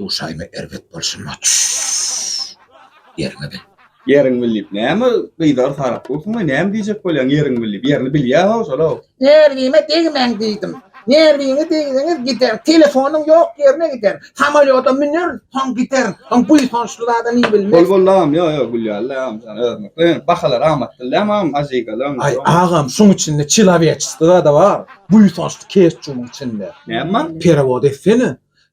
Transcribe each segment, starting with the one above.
Duşaýma erbet bolşy maç. Ýeriňe bil. Ýeriň bil diýip näme gyzar sarap dursuňaý näme diýjek bolýaň ýeriň bil diýip ýerini bilýä how şolaw. Nerwime degmäň diýdim. Nerwiňe degseňiz gider. Telefonyň ýok ýerine gider. Samolýoda müner soň gider. Soň buýsançly zada ni bilmez. Bol bol agam ýok ýok gülýärler agam şany özüňizi. Bahalar amatly däl agam ajigalyň. Aý agam şuň içinde çiloweçesty zada bar. Buýsançly keçjumyň içinde. Näme bar? Perewod etsene.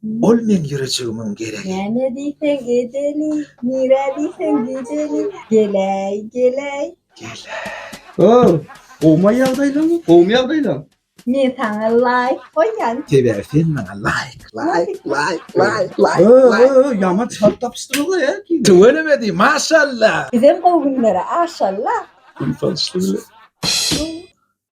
Ol meň ýürejigimiň geregi. Näme diýseň edeli, nirä diýseň gideli, Geläý, geläý. Geläý. O, gowumy ýagdaýlaň? Gowumy ýagdaýlaň? Men saňa laýk goýýan. Sebäbi sen maňa laýk, laýk, laýk, laýk, laýk. O, o, o, ýaman çalt tapyşdyryňyz-a ýa ikiniz. Tüweleme-di, maşallah! Bizem gowy günlere aşallah! Gün salyşdy bile.